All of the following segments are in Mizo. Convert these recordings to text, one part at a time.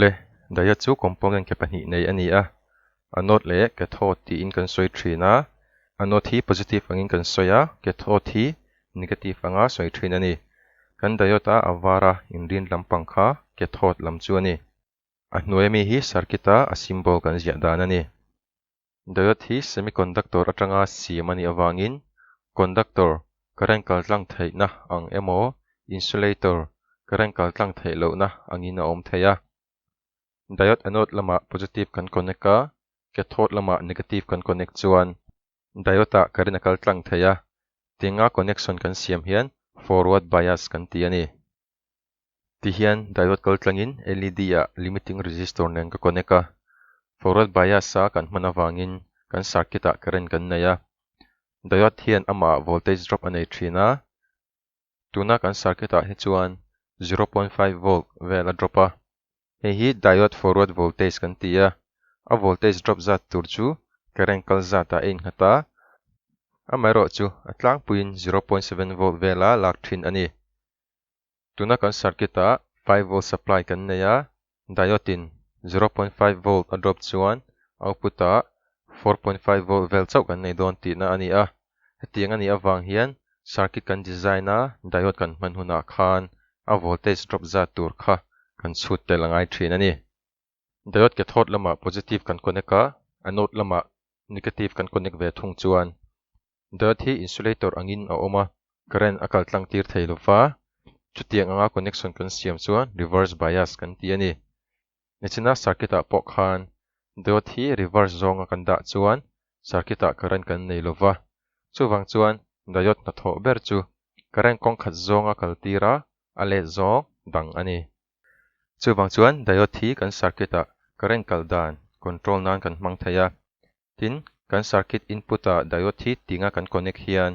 Le, Daya chu component ke pahnih nei a ni a, anode leh cathode tiin kan sawi thin a, anode hi positive angin kan sawi a, cathode hi negative anga sawi thin a ni. Kan diode a a vara inrin lampang kha cathode lam chu a ni. A hnuaia mi hi circuit a a symbol kan ziah dan a ni. Diode hi semiconductor atanga siam a nih avangin conductor, current kaltlang theihna, ang emaw insulator, current kaltlang theih lohna, angin a awm thei a. Diode anode lamah positive kan connect a, cathode lamah negative kan connect chuan diode ah current a kaltlang thei a, tinga connection kan siam hian forward bias kan ti a ni. Ti hian diode kal tlangin LED ah limiting resistor nen ka connect a. Forward bias a kan hman avangin kan circuit ah current kan nei a. Diode hian amah voltage drop a nei thin a. Tuna kan circuit ah hi chuan zero point five volt vel a drop a. Hei hi diode forward voltage kan ti a. A voltage drop zat tur chu current kal zat ah a innghat a. Amaherawhchu a tlangpuiin zero point seven volt vel a lak thin a ni. Tuna kan circuit ah five volt supply kan nei a, diode in zero point five volt a drop chuan output ah four point five volt vel chauh kan nei dawn tihna a ni a. Hetiang a nih avang hian circuit kan design a, diode kan hman hunah khan a voltage drop zat tur kha kan chhut tel a ngai thin a ni. Diode cathode lamah positive kan connect a, anode lamah negative kan connect ve thung chuan Diode hi insulator angin a awm a, current a kal tlang tir thei lo va, chutiang anga connection kan siam chuan reverse bias kan ti a ni. Nihchhina circuit-ah pawh khan diode hi reverse zawnga kan dah chuan circuit-ah current kan nei lo va, chuvang chuan diode hnathawh ber chu current kawngkhat zawnga kal tira a let zawng dang a ni. Chuvang chuan diode hi kan circuit ah current kal dan, control, nan kan hmang thei a. Tin, kan circuit input ah diode hi tinga kan connect hian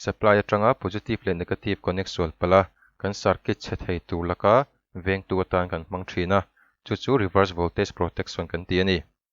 supply atanga positive leh negative connect sualpala kan circuit chhe thei tur laka vengtu atan kan hmang thin a, chu chu reverse voltage protection kan ti a ni.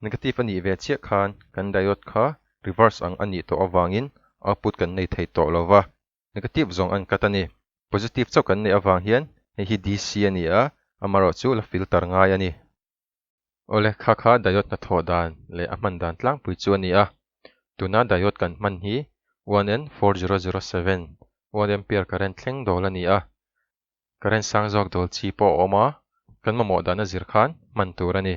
Negative a nih ve chiah khan kan diode kha reverse ang a nih tawh avangin output kan nei thei tawh lova, negative zawng an cut a ni. Positive chauh kan neih avang hian hei hi DC a ni a, amarawh chu la filter ngai a ni. Awle, kha kha diode hnathawh dan leh a hman dan tlangpui chu a ni a. Tuna diode kan hman hi 1N4007, one ampere current thleng dawl a ni a. Current sang zawk dawl chi pawh a awm a, kan mamawh dan a zir khan hman tur a ni.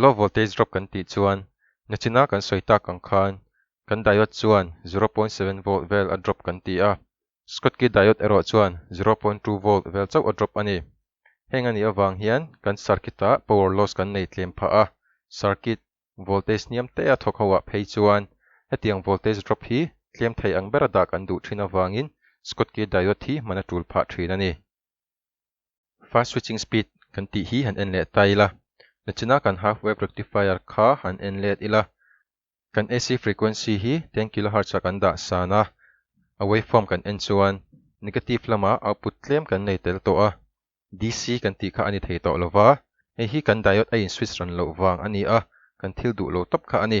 Low voltage drop kan tih chuan nachina kan sawi tak ang khan kan diode chuan zero point seven volt vel a drop kan ti a, Schottky diode erawh chuan zero point two volt vel chauh a drop a ni. Heng a nih avang hian kan circuit ah power loss kan nei tlem phah a, circuit voltage hniam te a thawk ho ah phei chuan hetiang voltage drop hi tlem thei ang ber a dah kan duh thin avangin Schottky diode hi hman a tul phah thin a ni. Fast switching speed kan tih hi han en leh ta ila, nichina kan half wave rectifier kha han en let ila, kan AC frequency hi ten kilohertz a kan dah san a, a waveform kan en chuan negative lama output tlem kan nei tel tawh a, DC kan tih kha a ni thei tawh lova, hei hi kan diode a in switch ran loh vang a ni a, kan thil duh lo tawp kha a ni.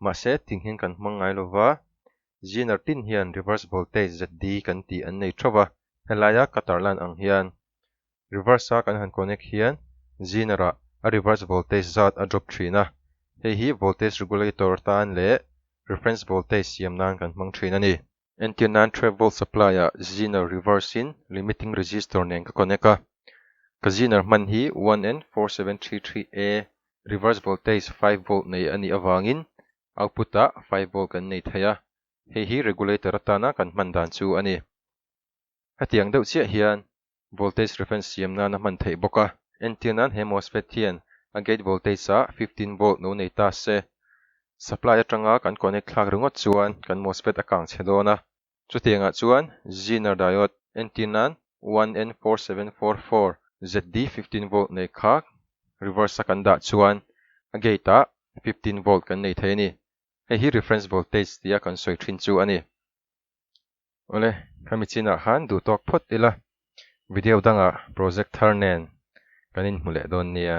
Mahse, tinghin kan hmang ngai lo va, Ziner pin hian reverse voltage ZD kan tih an nei thauh a, helaia cutter line ang hian reverse a kan han connect hian Ziner ah a reverse voltage zat a drop thin a, hei hi voltage regulator tan leh reference voltage siam nan kan hmang thin a ni. Entir nan Travel Supply ah Zener Reverse in Limiting Register nen ka connect a. Ka Zener hman hi 1N4733A Reverse Voltage five Volt nei a nih avangin Output ah five Volt kan nei thei a. Hei hi Regulator atana kan hman dan chu a ni. Hetiang deuh chiah hian voltage reference siam nana hman theih bawk a, entir nan he mosfet hian a gate voltage a fifteen volt no nei ta se, supply atanga kan connect thlak ringawt chuan kan mosfet a kang chhe dawn a, chutiangah chuan Zener diode entir nan one N four seven four four ZD fifteen volt nei kha reverse a kan dah chuan a gate ah fifteen volt kan nei thei a ni, hei hi reference voltage tia kan sawi thin chu a ni. Awle, ka michinah khan duh tawk phawt ila, video dangah projector nen kan inhmu leh dawn nia.